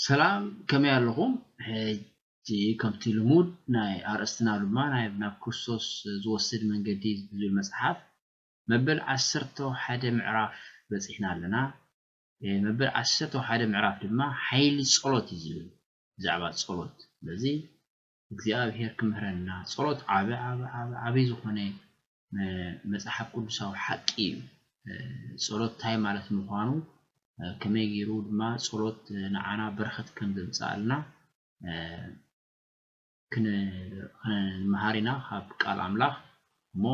ሰላም ከመይ ኣለኹም ሕጂ ከምቲ ልሙድ ናይ ኣርእስትና ድማ ናይ ናብ ክርስቶስ ዝወስድ መንገዲ ዝብል መጽሓፍ መበል ዓሰርተ ሓደ ምዕራፍ በጺሕና ኣለና መበል ዓሰርተ ሓደ ምዕራፍ ድማ ሓይሊ ጸሎት እዩ ዝብል ብዛዕባ ጸሎት ስለዚ እግዚኣብሔር ክምህረና ጸሎት ዓቢ ዓቢ ዓቢ ዓቢ ዝኾነ መጽሓፍ ቅዱሳዊ ሓቂ እዩ ጸሎት እንታይ ማለት ምዃኑ ከመይ ገይሩ ድማ ጸሎት ንዓና በረኸት ከም ዘምጽኣልና ክንመሃር ኢና ካብ ቃል ኣምላኽ እሞ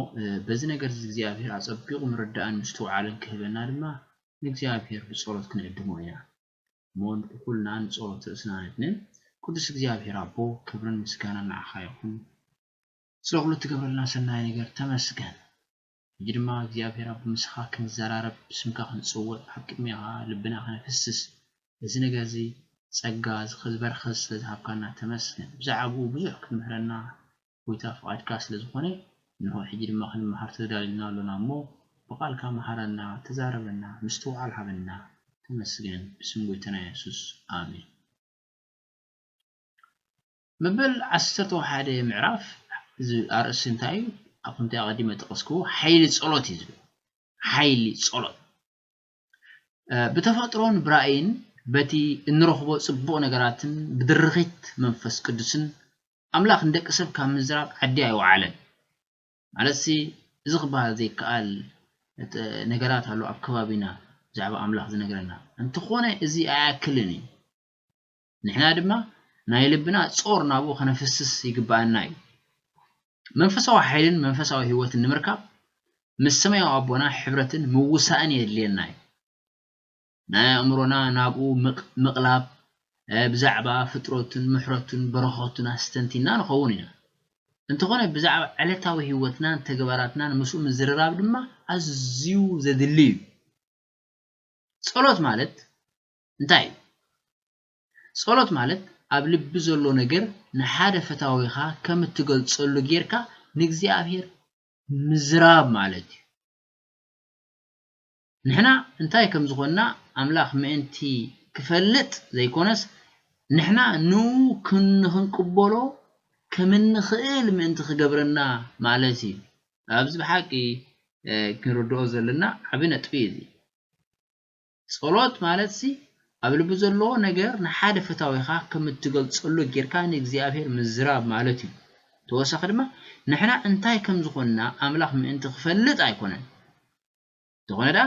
በዚ ነገር እዚ እግዚኣብሔር ኣጸቢቑ ምርዳእን ምስትውዓልን ክህበና ድማ ንእግዚኣብሔር ብጸሎት ክንዕድሞ ኢና እሞ ንኩልና ንጸሎት ርእስና ነድንን ቅዱስ እግዚኣብሔር ኣቦ ክብርን ምስጋናን ንዓኻ ይኹን ስለ ኩሉ እትገብረልና ሰናይ ነገር ተመስገን ሕጂ ድማ እግዚኣብሔር ኣቦ ምሳኻ ክንዘራረብ ብስምካ ክንጽውዕ ኣብ ቅድሜኻ ልብና ከነፍስስ እዚ ነገር እዚ ጸጋ እዚ ዝበረኸት ስለ ዝሃብካና ተመስገን ብዛዕብኡ ብዙሕ ክትምህረና ጎይታ ፍቃድካ ስለ ዝኮነ እንሆ ሕጂ ድማ ክንመሃር ተዳሊና ኣሎና እሞ ብቃልካ መሃረና ተዛረበና ምስትውዓል ሃበና ተመስገን ብስም ጎይታና የሱስ ኣሜን። መበል ዓሰርተ ሓደ ምዕራፍ ዝብል ኣርእስቲ እንታይ እዩ? ኣብ ከምቲ ኣቐዲመ ዝጠቐስክዎ ሓይሊ ጸሎት እዩ ዝብል። ሓይሊ ጸሎት ብተፈጥሮን ብራእይን በቲ እንረኽቦ ጽቡቕ ነገራትን ብድርኺት መንፈስ ቅዱስን ኣምላኽ ንደቂ ሰብ ካብ ምዝራብ ዓዲ ኣይወዓለን። ማለትሲ እዚ ክበሃል ዘይከኣል ነገራት ኣሎ ኣብ ከባቢና ብዛዕባ ኣምላኽ ዝነግረና። እንተኾነ እዚ ኣይኣክልን እዩ። ንሕና ድማ ናይ ልብና ጾር ናብኡ ከነፍስስ ይግበኣና እዩ። መንፈሳዊ ሓይልን መንፈሳዊ ህይወትን ንምርካብ ምስ ሰማያዊ ኣቦና ሕብረትን ምውሳእን የድልየና እዩ። ናይ ኣእምሮና ናብኡ ምቕላብ ብዛዕባ ፍጥረቱን ምሕረቱን በረኸቱን ኣስተንቲንና ንኸውን ኢና። እንተኾነ ብዛዕባ ዕለታዊ ህይወትናን ተግባራትናን ምስኡ ምዝርራብ ድማ ኣዝዩ ዘድሊ እዩ። ጸሎት ማለት እንታይ እዩ? ጸሎት ማለት ኣብ ልቢ ዘሎ ነገር ንሓደ ፈታዊኻ ከም እትገልጸሉ ጌርካ ንእግዚኣብሄር ምዝራብ ማለት እዩ። ንሕና እንታይ ከም ዝዀንና ኣምላኽ ምእንቲ ኺፈልጥ ዘይኰነስ፣ ንሕና ንእኡ ንኽንቅበሎ ከም እንኽእል ምእንቲ ኺገብረና ማለት እዩ። ኣብዚ ብሓቂ ክንርድኦ ዘሎና ዓቢ ነጥቢ እዩ እዚ። ጸሎት ማለትሲ፣ ኣብ ልቢ ዘሎ ነገር ንሓደ ፈታዊኻ ከም እትገልጸሉ ጌርካ ንእግዚኣብሄር ምዝራብ ማለት እዩ። ብተወሳኺ ድማ፣ ንሕና እንታይ ከም ዝዀንና ኣምላኽ ምእንቲ ኺፈልጥ ኣይኰነን። እንተኾነ ደኣ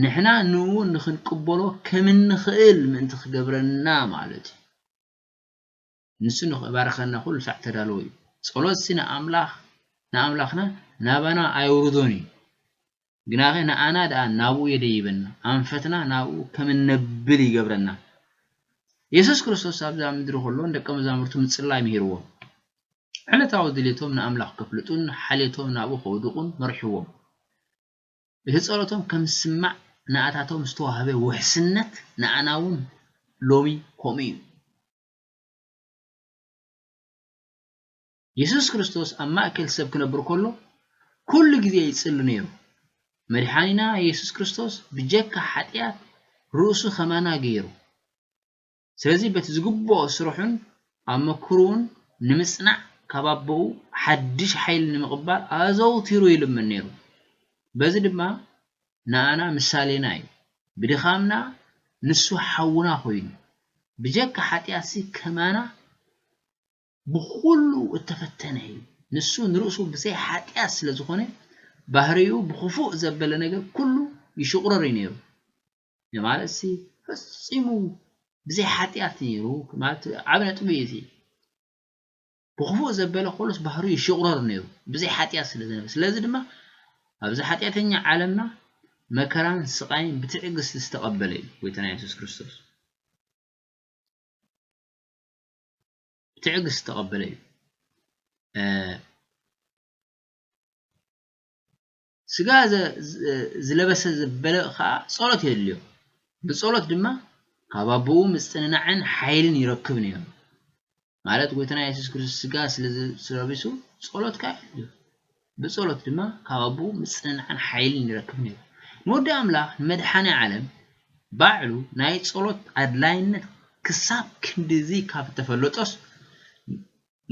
ንሕና ንእኡ ንኽንቅበሎ ከም እንኽእል ምእንቲ ክገብረና ማለት እዩ። ንሱ ንኽባርኸና ኩሉ ሳዕ እተዳለወ እዩ። ጸሎትሲ ንኣምላኽ ንኣምላኽና ናባና ኣየውርዶን እዩ፣ ግናኸ ንኣና ደኣ ናብኡ የደይበና፣ ኣንፈትና ናብኡ ከም እነብል ይገብረና። የሱስ ክርስቶስ ኣብዛ ምድሪ ከሎ ንደቀ መዛሙርቱ ምጽላይ ምሂርዎም። ዕለታዊ ድሌቶም ንኣምላኽ ከፍልጡን ሓልዮቶም ናብኡ ከውድቑን መሪሕዎም። ብህጸረቶም ከም ዝስማዕ ንኣታቶም ዝተዋህበ ውሕስነት ንኣና ውን ሎሚ ከምኡ እዩ። የሱስ ክርስቶስ ኣብ ማእከል ሰብ ክነብር ከሎ ኩሉ ግዜ ይጽሊ ነይሩ። መድሓኒና የሱስ ክርስቶስ ብጀካ ሓጥያት ርእሱ ከማና ገይሩ። ስለዚ በቲ ዝግብኦ ስርሑን ኣመክሩኡን ንምጽናዕ ካብ ኣቦኡ ሓድሽ ሓይሊ ንምቕባል ኣዘውቲሩ ይልምን ነይሩ። በዚ ድማ ንኣና ምሳሌና እዩ። ብድኻምና ንሱ ሓውና ኮይኑ፣ ብጀካ ሓጢኣትሲ ከማና ብኹሉ እተፈተነ እዩ። ንሱ ንርእሱ ብዘይ ሓጢኣት ስለ ዝኾነ፣ ባህርይኡ ብኽፉእ ዘበለ ነገር ኩሉ ይሽቑረር እዩ ነይሩ። እዚ ማለትሲ ፈጺሙ ብዘይ ሓጢኣት ነይሩ ማለት ዓቢ ነጥቢ እዩ እዚ ብኽፉእ ዘበለ ከሎስ ባህርዩ ይሽቑረር ነይሩ ብዘይ ሓጢኣት ስለ ዝነበረ ስለዚ ድማ ኣብዚ ሓጢኣተኛ ዓለምና መከራን ስቓይን ብትዕግስቲ ዝተቐበለ እዩ ጎይታና የሱስ ክርስቶስ ብትዕግስቲ ዝተቐበለ እዩ ስጋ ዝለበሰ ዘበለ ኸኣ ጸሎት የድልዮ። ብጸሎት ድማ ካብ ኣቦኡ ምጽንናዕን ሓይልን ይረክብ ነይሩ። ማለት ጎይታና የሱስ ክርስቶስ ስጋ ስለ ስለቢሱ ጸሎት ከኣ የድልዮ። ብጸሎት ድማ ካብ ኣቦኡ ምጽንናዕን ሓይልን ይረክብ ነይሩ። ንወዲ ኣምላኽ ንመድሓኔ ዓለም ባዕሉ ናይ ጸሎት ኣድላይነት ክሳብ ክንድዚ ካብ እተፈለጦስ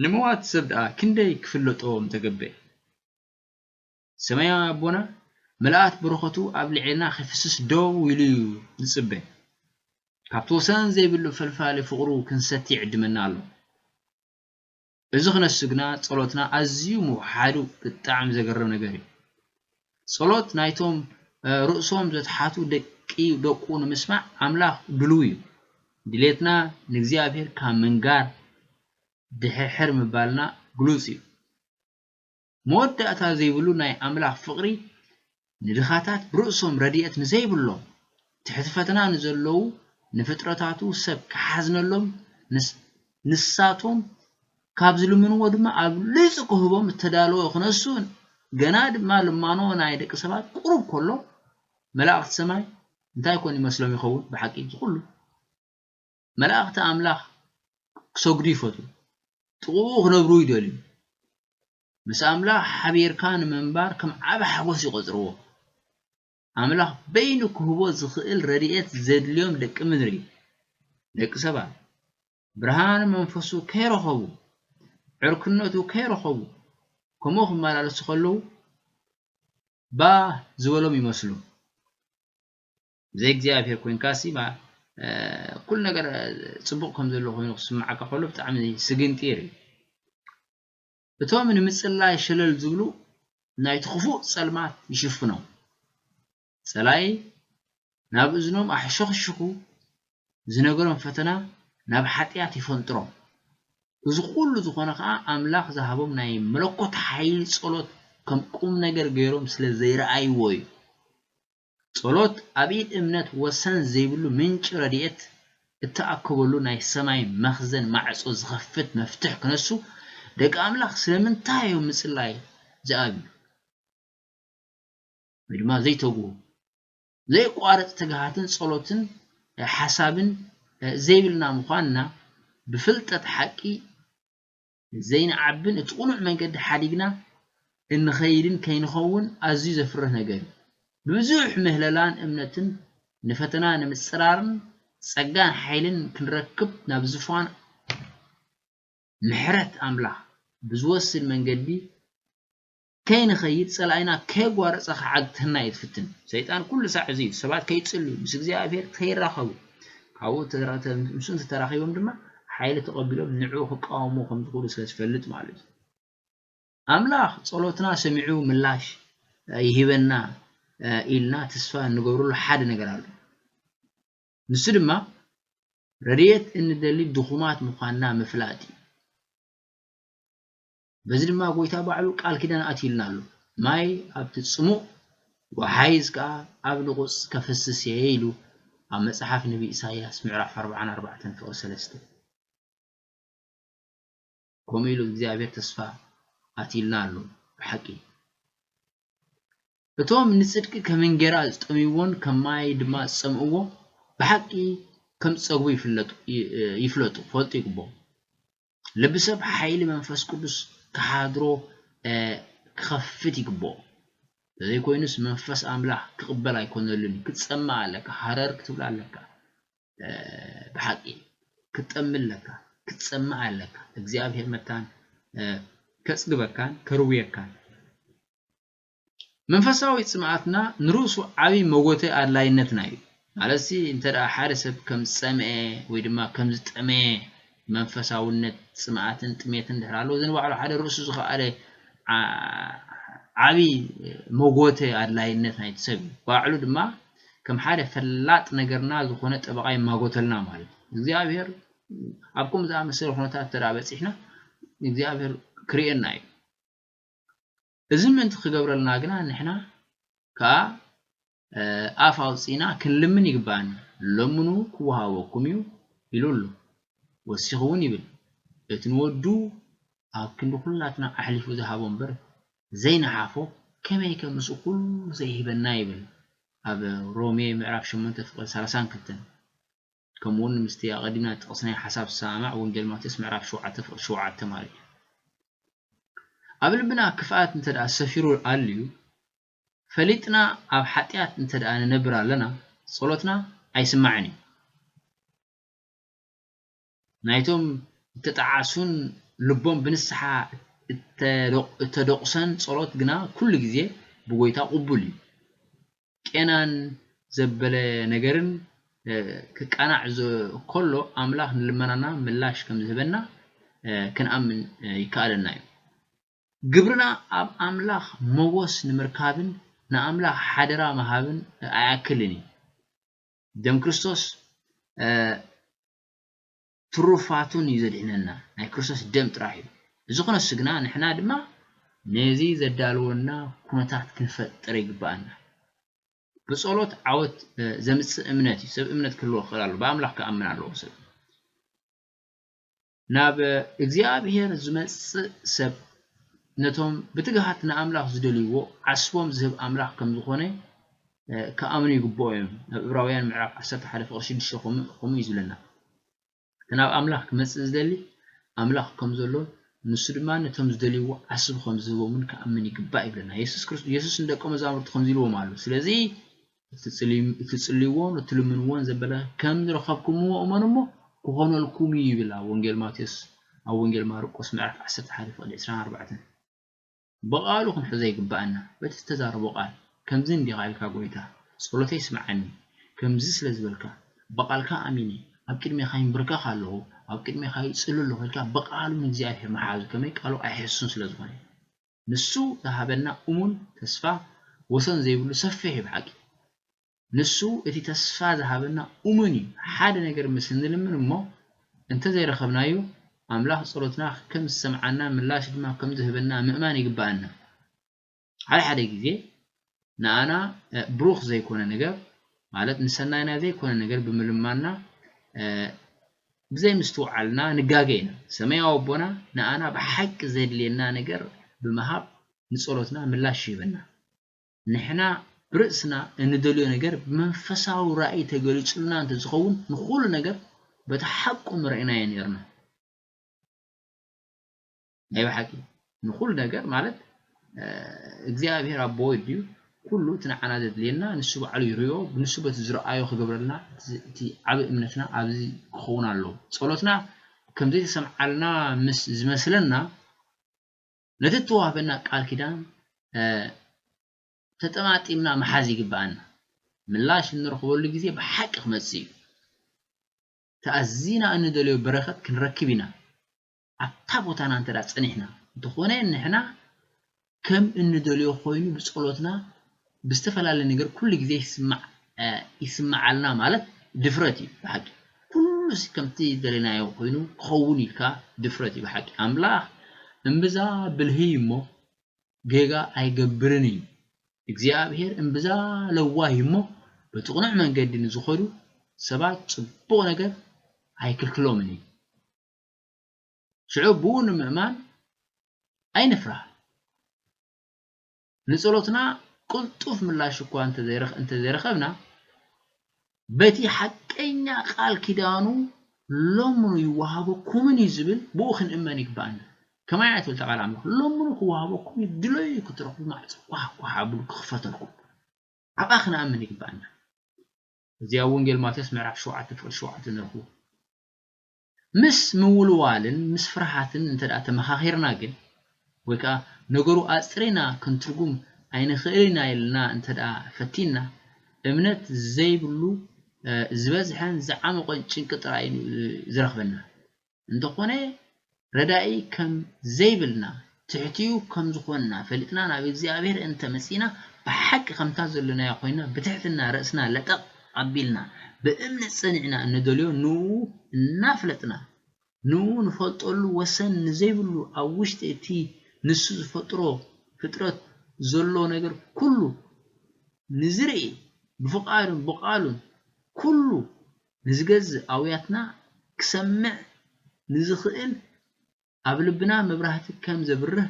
ንመዋቲ ሰብ ደኣ ክንደይ ክፍለጦ ምተገበኤ። ሰማያዊ ኣቦና ምልኣት በረኸቱ ኣብ ልዕሌና ኺፍስስ ደው ኢሉ እዩ ዚጽበ። ካብቲ ወሰን ዘይብሉ ፈልፋሊ ፍቕሩ ክንሰቲ ይዕድመና ኣሎ። እዚ ኽነሱ ግና ጸሎትና ኣዝዩ ምውሕሓዱ ብጣዕሚ ዘገርም ነገር እዩ። ጸሎት ናይቶም ርእሶም ዘትሓቱ ደቂ ደቁ ንምስማዕ ኣምላኽ ድሉው እዩ። ድሌትና ንእግዚኣብሄር ካብ ምንጋር ድሕርሕር ምባልና ግሉጽ እዩ። መወዳእታ ዘይብሉ ናይ ኣምላኽ ፍቕሪ ንድኻታት ብርእሶም ረድኤት ንዘይብሎም ትሕቲ ፈተና ንዘለዉ ንፍጥረታቱ ሰብ ክሓዝነሎም ንስ ንሳቶም ካብ ዝልምንዎ ድማ ኣብሊጹ ክህቦም እተዳለወ ክነሱ ገና ድማ ልማኖ ናይ ደቂ ሰባት ቁሩብ ከሎ መላእኽቲ ሰማይ እንታይ ኮን ይመስሎም ይኸውን ብሓቂ እዚ ኩሉ መላእኽቲ ኣምላኽ ክሰግዱ ይፈትዉ፣ ጥቕኡ ክነብሩ ይደልዩ፣ ምስ ኣምላኽ ሓቢርካ ንምንባር ከም ዓቢ ሓጎስ ይቖጽርዎ። ኣምላኽ በይኑ ክህቦ ዝኽእል ረድኤት ዘድልዮም ደቂ ምድሪ፣ ደቂ ሰባት፣ ብርሃን መንፈሱ ከይረኸቡ፣ ዕርክነቱ ከይረኸቡ ከምኡ ክመላለሱ ከለዉ ባህ ዝበሎም ይመስሉ። ብዘይ እግዚኣብሄር ኮይንካሲ ኩሉ ነገር ጽቡቕ ከም ዘሎ ኮይኑ ክስምዓካ ከሎ ብጣዕሚ ስግንጢር እዩ። እቶም ንምጽላይ ሸለል ዝብሉ ናይቲ ክፉእ ጸልማት ይሽፍኖም። ጸላኢ ናብ እዝኖም ኣሕሸኽሽኹ ዝነገሮም ፈተና ናብ ሓጢኣት ይፈንጥሮም። እዚ ኩሉ ዝኾነ ከኣ ኣምላኽ ዝሃቦም ናይ መለኮት ሓይሊ ጸሎት ከም ቁም ነገር ገይሮም ስለ ዘይረኣይዎ እዩ። ጸሎት ኣብ ኢድ እምነት ወሰን ዘይብሉ ምንጪ ረድኤት እትኣክበሉ ናይ ሰማይ መኽዘን ማዕጾ ዝኸፍት መፍትሕ ክነሱ ደቂ ኣምላኽ ስለምንታይ እዮም ምጽላይ ዝኣብዩ ወይ ድማ ዘይተግሁ ዘየቋርጽ ትግሃትን ጸሎትን ሓሳብን ዘይብልና ምዃንና ብፍልጠት ሓቂ ዘይንዓብን እቲ ቅኑዕ መንገዲ ሓዲግና እንኸይድን ከይንኸውን ኣዝዩ ዘፍርህ ነገር እዩ። ብብዙሕ ምህለላን እምነትን ንፈተና ንምጽራርን ጸጋን ሓይልን ክንረክብ ናብ ዝፋን ምሕረት ኣምላኽ ብዝወስድ መንገዲ ከይንኸይድ ጸላኢና ከየጓረጸ ክዓግተና እዩ ትፍትን። ሰይጣን ኩሉ ሳዕ እዚ እዩ ሰባት ከይጽልዩ ምስ እግዚኣብሔር ከይራኸቡ ካብኡ ምስ እንተተራኺቦም ድማ ሓይሊ ተቐቢሎም ንዕኡ ክቃወምዎ ከም ዝኽእሉ ስለ ዝፈልጥ ማለት እዩ። ኣምላኽ ጸሎትና ሰሚዑ ምላሽ ይህበና ኢልና ተስፋ እንገብረሉ ሓደ ነገር ኣሎ። ንሱ ድማ ረድኤት እንደሊ ድኹማት ምዃንና ምፍላጥ እዩ። በዚ ድማ ጐይታ ባዕሉ ቃል ኪዳን ኣትዩልና ኣሎ፣ ማይ ኣብቲ ጽሙእ ወሓይዝ ከኣ ኣብ ንቑጽ ከፍስስ እየ ኢሉ ኣብ መጽሓፍ ነብይ ኢሳይያስ ምዕራፍ ኣርብዓን ኣርባዕተን ፍቕሪ ሰለስተ። ከምኡ ኢሉ እግዚኣብሔር ተስፋ ኣትዩልና ኣሎ ብሓቂ። እቶም ንጽድቂ ከም እንጌራ ዝጠምይዎን ከም ማይ ድማ ዝጸምእዎ ብሓቂ ከም ዝጸግቡ ይፍለጡ ይፍለጡ ፈልጡ ይግብኦም። ልቢ ሰብ ሓይሊ መንፈስ ቅዱስ ክሓድሮ ክኸፍት ይግብኦ። ተዘይኮይኑስ መንፈስ ኣምላኽ ክቕበል ኣይኮነሉን እዩ። ክትጸምእ ኣለካ፣ ሃረር ክትብል ኣለካ፣ ብሓቂ ክትጠሚ ኣለካ፣ ክትጸምእ ኣለካ። እግዚኣብሔር መታን ከጽግበካን ከርውየካን። መንፈሳዊ ጽምኣትና ንርእሱ ዓቢ መጎተ ኣድላይነትና እዩ። ማለትሲ እንተ ደኣ ሓደ ሰብ ከም ዝጸምኤ ወይ ድማ ከም ዝጠመየ መንፈሳውነት ጽምኣትን ጥሜትን እንድሕር ኣለዎ እዚ ንባዕሉ ሓደ ርእሱ ዝኸኣለ ዓቢ መጎተ ኣድላይነት ናይቲ ሰብ እዩ። ባዕሉ ድማ ከም ሓደ ፈላጥ ነገርና ዝኾነ ጠበቓ ይማጎተልና ማለት እዩ። እግዚኣብሄር ኣብ ከምኡ ዝኣመሰለ ኩነታት እንተ ደኣ በጺሕና እግዚኣብሄር ክርእየና እዩ። እዚ ምእንቲ ክገብረልና ግና ንሕና ከኣ ኣፍ ኣውጺእና ክንልምን ይግብኣና። ለምኑ ክወሃበኩም እዩ ኢሉ ኣሎ። ወሲኹ እውን ይብል እቲ ንወዱ ኣብ ክንዲ ኩላትና ኣሕሊፉ ዝሃቦ እምበር ዘይነሓፎ ከመይከ ምስኡ ኩሉ ዘይህበና ይብል ኣብ ሮሜ ምዕራፍ ሸሞንተ ፍቕዲ ሰላሳን ክልተን። ከምኡውን ምስቲ ኣቐዲምና ዝጠቐስናዮ ሓሳብ ዝሰማማዕ ወንጌል ማቴዎስ ምዕራፍ ሸውዓተ ፍቕዲ ሸውዓተ ተማልኡ እዮም። ኣብ ልብና ክፍኣት እንተ ደኣ ሰፊሩ ኣልዩ ፈሊጥና ኣብ ሓጢኣት እንተ ደኣ ንነብር ኣለና ጸሎትና ኣይስማዕን እዩ። ናይቶም እተጣዓሱን ልቦም ብንስሓ እተደቑሰን ጸሎት ግና ኩሉ ግዜ ብጐይታ ቅቡል እዩ። ቄናን ዘበለ ነገርን ክቃናዕ ከሎ ኣምላኽ ንልመናና ምላሽ ከም ዝህበና ክንኣምን ይከኣለና እዩ። ግብርና ኣብ ኣምላኽ ሞጎስ ንምርካብን ንኣምላኽ ሓደራ ምሃብን ኣይኣክልን እዩ። ደም ክርስቶስ ትሩፋቱን እዩ ዘድሕነና ናይ ክርስቶስ ደም ጥራሕ እዩ እዚ ክነሱ ግና ንሕና ድማ ነዚ ዘዳልወና ኩነታት ክንፈጥር ይግበኣና ብጸሎት ዓወት ዘምጽእ እምነት እዩ ሰብ እምነት ክህልዎ ክኽእል ኣለዎ ብኣምላኽ ክኣምን ኣለዎ ሰብ ናብ እግዚኣብሔር ዝመጽእ ሰብ ነቶም ብትግሃት ንኣምላኽ ዝደልይዎ ዓስቦም ዝህብ ኣምላኽ ከም ዝኾነ ክኣምኑ ይግብኦ እዮም ኣብ እብራውያን ምዕራፍ ዓሰርተ ሓደ ፍቅሪ ሽዱሽተ ከምኡ እዩ ዝብለና እቲ ናብ ኣምላኽ ክመጽእ ዝደሊ ኣምላኽ ከም ዘሎን ንሱ ድማ ነቶም ዝደልይዎ ዓስቢ ከም ዝህቦምን ክኣምን ይግባእ ይብለና የሱስ ክርስቶስ የሱስ ንደቀ መዛሙርቱ ከምዚ ኢልዎም ኣሎ ስለዚ እትጽልይዎን እትልምንዎን ዘበለ ከም ዝረኸብኩምዎ እመኑ እሞ ክኾነልኩም እዩ ይብል ኣብ ወንጌል ማቴዎስ ኣብ ወንጌል ማርቆስ ምዕራፍ ዓሰርተ ሓደ ፍቕዲ ዕስራን ኣርባዕተን ብቓሉ ክንሕዞ ይግብኣና፣ በቲ ዝተዛረቦ ቓል፣ ከምዚ እንዲኻ ኢልካ ጐይታ፣ ጸሎተይ ስምዓኒ፣ ከምዚ ስለ ዝበልካ፣ ብቓልካ ኣሚነ፣ ኣብ ቅድሜኻ ይምብርከኽ ኣለኹ፣ ኣብ ቅድሜኻ ይጽሊ ኣለኹ ኢልካ ብቓሉ ንእግዚኣብሄር ምሓዙ ከመይ ቃሉ ኣይሕስሱን ስለ ዝኾነ። ንሱ ዝሃበና እሙን ተስፋ ወሰን ዘይብሉ ሰፊሕ እዩ ብሓቂ። ንሱ እቲ ተስፋ ዝሃበና እሙን እዩ። ሓደ ነገር ምስ እንልምን እሞ እንተ ዘይረኸብናዮ፣ ኣምላኽ ጸሎትና ከም ዝሰምዓናን ምላሽ ድማ ከም ዝህበና ምእማን ይግብኣና። ሓደ ሓደ ግዜ ንኣና ብሩኽ ዘይኰነ ነገር፣ ማለት ንሰናይና ዘይኰነ ነገር ብምልማንና ብዘይምስትውዓልና ንጋገ ኢና። ሰማያዊ ኣቦና ንኣና ብሓቂ ዜድልየና ነገር ብምሃብ ንጸሎትና ምላሽ ይህበና። ንሕና ብርእስና እንደልዮ ነገር ብመንፈሳዊ ራእይ ተገሊጹልና እንተ ዝኸውን ንኹሉ ነገር በቲ ሓቁ ምረእናዮ ኔርና። ናይ ብሓቂ ንኹሉ ነገር ማለት እግዚኣብሔር ኣቦ ወዲዩ ኩሉ እቲ ንዓና ዘድልየና ንሱ ባዕሉ ይሪኦ ንሱ በቲ ዝረኣዮ ክገብረልና እቲ ዓቢ እምነትና ኣብዚ ክኸውን ኣለዎ ጸሎትና ከም ዘይተሰምዓልና ምስ ዝመስለና ነቲ እተዋህበና ቃል ኪዳን ተጠማጢምና ምሓዝ ይግብኣና። ምላሽ እንረኽበሉ ግዜ ብሓቂ ክመጽእ ኢዩ። እቲ ኣዚና እንደልዮ በረኸት ክንረክብ ኢና። ኣብታ ቦታና እንተ ጸኒሕና፣ እንተኾነ ንሕና ከም እንደልዮ ኮይኑ ብጸሎትና ብዝተፈላለየ ነገር ኩሉ ግዜ ይስማዕ ይስምዓልና ማለት ድፍረት እዩ ብሓቂ ኩሉስ ከምቲ ዝደለናዮ ኮይኑ ክኸውን ኢልካ ድፍረት እዩ ብሓቂ ኣምላኽ እምብዛ ብልሂ እዩ እሞ ጌጋ ኣይገብርን እዩ እግዚኣብሄር እምብዛ ለዋህ እዩ እሞ በቲ ቅኑዕ መንገዲ ንዝኸዱ ሰባት ጽቡቕ ነገር ኣይክልክሎምን እዩ ሽዑ ብኡ ንምእማን ኣይንፍራህ። ንጸሎትና ቅልጡፍ ምላሽ እኳ እንተዘይረኸብና፣ በቲ ሓቀኛ ቃል ኪዳኑ ለምኑ ይወሃበኩምን እዩ ዝብል ብኡ ክንእመን ይግብኣና። ከማይ እያ ትብል እታ ቃል ኣምላኽ፣ ለምኑ ክወሃበኩም እዩ፣ ድለዩ ክትረኽቡ፣ ማዕጾ ኳሕ ኳሕ ኣብሉ ክኽፈተልኩም። ኣብኣ ክንኣምን ይግብኣና። እዚ ኣብ ወንጌል ማቴዎስ ምዕራፍ ሸውዓተ ፍቕዲ ሸውዓተ ንረኽቦ። ምስ ምውልዋልን ምስ ፍርሃትን እንተ ተመኻኺርና ግን፣ ወይ ከኣ ነገሩ ኣጽሪና ክንትርጉም ኣይንኽእልን ኢና ኢልና እንተ ፈቲንና፣ እምነት ዘይብሉ ዝበዝሐን ዝዓሞቐን ጭንቂ ጥራይ እዩ ዝረኽበና። እንተኾነ ረዳኢ ከም ዘይብልና ትሕቲኡ ከም ዝኾንና ፈሊጥና ናብ እግዚኣብሔር እንተ መጺእና ብሓቂ ከምታ ዘሎናዮ ኮይንና ብትሕትና ርእስና ለጠቕ ኣቢልና ብእምነት ጸኒዕና እንደልዮ ንእኡ እናፍለጥና ንእኡ ንፈልጠሉ ወሰን ንዘይብሉ ኣብ ውሽጢ እቲ ንሱ ዝፈጥሮ ፍጥረት ዘሎ ነገር ኩሉ ንዝርኢ ብፍቓዱን ብቓሉን ኩሉ ንዝገዝእ ኣውያትና ክሰምዕ ንዝኽእል ኣብ ልብና መብራህቲ ከም ዘብርህ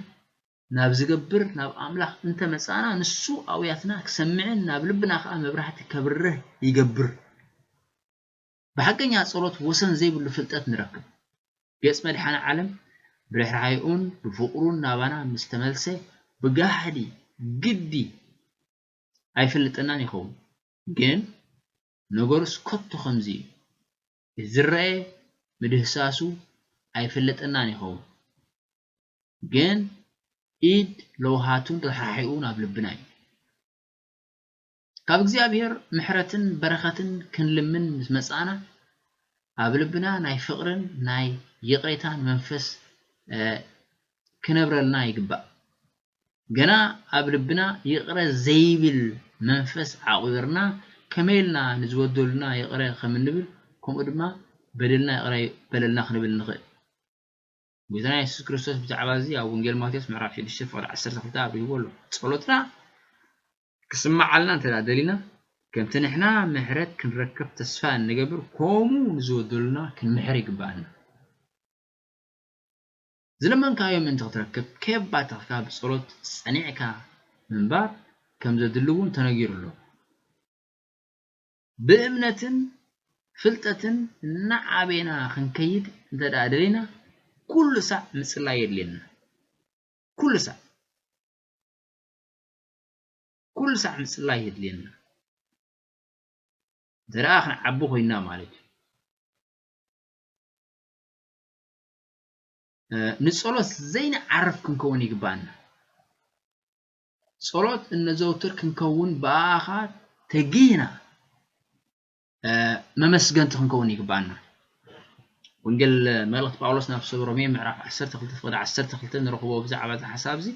ናብ ዝገብር ናብ ኣምላኽ እንተ መጻእና ንሱ ኣውያትና ክሰምዕን ናብ ልብና ከኣ መብራህቲ ከብርህ ይገብር። ብሓቀኛ ጸሎት ወሰን ዘይብሉ ፍልጠት ንረክብ። ገጽ መድሓኒ ዓለም ብርሕራሔኡን ብፍቅሩን ናባና ምስ ተመልሰ ብጋህዲ ግዲ ኣይፈልጠናን ይኸውን ግን ነገሩስ ከቶ ከምዚ እዩ። እቲ ዝረኣየ ምድህሳሱ ኣይፈለጠናን ይኸውን ግን ኢድ ለውሃቱን ርሕራሒኡን ኣብ ልብና እዩ። ካብ እግዚኣብሔር ምሕረትን በረኸትን ክንልምን ምስ መጻእና ኣብ ልብና ናይ ፍቕርን ናይ ይቕሬታን መንፈስ ክነብረልና ይግባእ። ገና ኣብ ልብና ይቕረ ዘይብል መንፈስ ዓቝርና ከመይ ኢልና ንዝበደሉና ይቕረ ከም እንብል ከምኡ ድማ በደልና ይቕረ በለልና ክንብል ንኽእል። ጐይታና የሱስ ክርስቶስ ብዛዕባ እዚ ኣብ ወንጌል ማቴዎስ ምዕራፍ ሽዱሽተ ፍቕዲ ዓሰርተ ክልተ ኣብሪህዎ ኣሎ። ጸሎትና ክስምዓልና እንተ ደሊና ከምቲ ንሕና ምሕረት ክንረከብ ተስፋ እንገብር ከምኡ ንዝበደሉና ክንምሕር ይግብኣና። ዝለመንካዮ ምእንቲ ክትረክብ ከየብ ባተኽካ ብጸሎት ጸኒዕካ ምንባር ከም ዘድሊ እውን ተነጊሩ ኣሎ። ብእምነትን ፍልጠትን እናዓበና ክንከይድ እንተድኣ ደሊና ኩሉ ሳዕ ምጽላይ የድልየና። ኩሉ ሳዕ ኩሉ ሳዕ ምጽላይ የድልየና እንተድኣ ክንዓቢ ኮይና ማለት እዩ። ንጸሎት ዘይንዓርፍ ክንከውን ይግብኣና። ጸሎት እነዘውትር ክንከውን ብኣኻ ተጊህና መመስገንቲ ክንከውን ይግብኣና። ወንጌል መልእኽቲ ጳውሎስ ናብ ሰብ ሮሜ ምዕራፍ 12 ፍቕዲ 12 ንረኽቦ ብዛዕባ እዚ ሓሳብ እዚ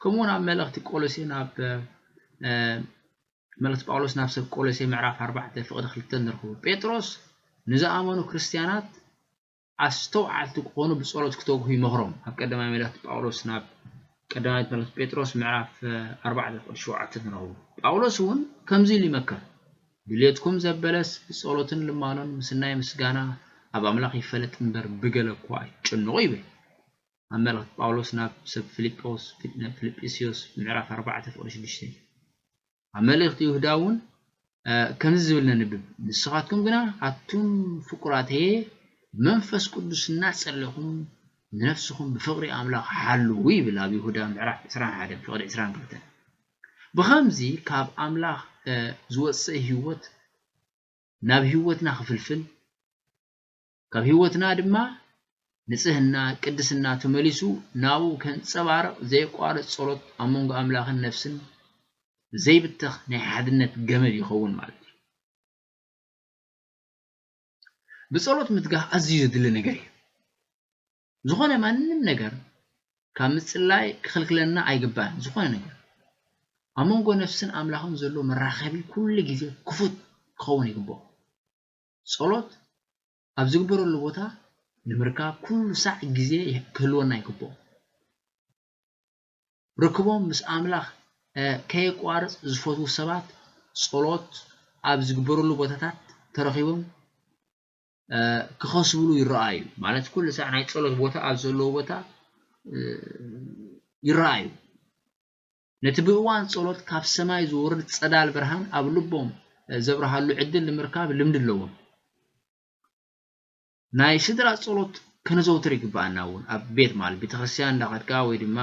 ከምኡ እውን ኣብ መልእኽቲ ቆሎሴ ናብ መልእኽቲ ጳውሎስ ናብ ሰብ ቆሎሴ ምዕራፍ 4 ፍቕዲ 2 ንረኽቦ ጴጥሮስ ንዝኣመኑ ክርስትያናት ኣስተውዓልቲ ክኾኑ ብጸሎት ክተግሁ ይመኽሮም ኣብ ቀዳማይ መልእኽቲ ጳውሎስ ናብ ቀዳማይ መልእኽቲ ጴጥሮስ ምዕራፍ ኣርባዕተ ቁጽሪ ሸውዓተ ትረኽቡ። ጳውሎስ እውን ከምዚ ኢሉ ይመክር፣ ድሌትኩም ዘበለስ ብጸሎትን ልማኖን ምስ ናይ ምስጋና ኣብ ኣምላኽ ይፈለጥ እምበር ብገለ እኳ ኣይትጨነቑ ይብል ኣብ መልእኽቲ ጳውሎስ ናብ ሰብ ፊልጵስዮስ ምዕራፍ ኣርባዕተ ቁጽሪ ሽዱሽተ። ኣብ መልእኽቲ ይሁዳ እውን ከምዚ ዝብል ነንብብ፣ ንስኻትኩም ግና ኣቱም ፍቁራተየ ብመንፈስ ቅዱስ እናጸለኹም ንነፍስኹም ብፍቕሪ ኣምላኽ ሓልዉ ይብል ኣብ ይሁዳ ምዕራፍ ዕስራን ሓደን ፍቕዲ ዕስራን ክልተን ብኸምዚ ካብ ኣምላኽ ዝወጽእ ህይወት ናብ ህይወትና ክፍልፍል ካብ ሕይወትና ድማ ንጽህና፣ ቅድስና፣ ተመሊሱ ናብኡ ከንጸባርቕ ዘየቋርጽ ጸሎት ኣብ መንጎ ኣምላኽን ነፍስን ዘይብተኽ ናይ ሓድነት ገመድ ይኸውን ማለት እዩ። ብጸሎት ምትጋህ ኣዝዩ ዘድሊ ነገር እዩ። ዝኾነ ማንም ነገር ካብ ምጽላይ ክኽልክለና ኣይግባእን። ዝኾነ ነገር ኣብ መንጎ ነፍስን ኣምላኽን ዘሎ መራኸቢ ኩሉ ግዜ ክፉት ክኸውን ይግብኦ። ጸሎት ኣብ ዝግበረሉ ቦታ ንምርካብ ኩሉ ሳዕ ግዜ ክህልወና ይግብኦ። ርክቦም ምስ ኣምላኽ ከየቋርጽ ዝፈትዉ ሰባት ጸሎት ኣብ ዝግበረሉ ቦታታት ተረኺቦም ክኸስብሉ ይረኣዩ። ማለት ኩሉ ሳዕ ናይ ጸሎት ቦታ ኣብ ዘለዎ ቦታ ይረኣዩ። ነቲ ብእዋን ጸሎት ካብ ሰማይ ዝወርድ ጸዳል ብርሃን ኣብ ልቦም ዘብርሃሉ ዕድል ንምርካብ ልምዲ ኣለዎም። ናይ ስድራ ጸሎት ከነዘውትር ይግብኣና እውን ኣብ ቤት ማለት ቤተክርስትያን እንዳኸድካ ወይ ድማ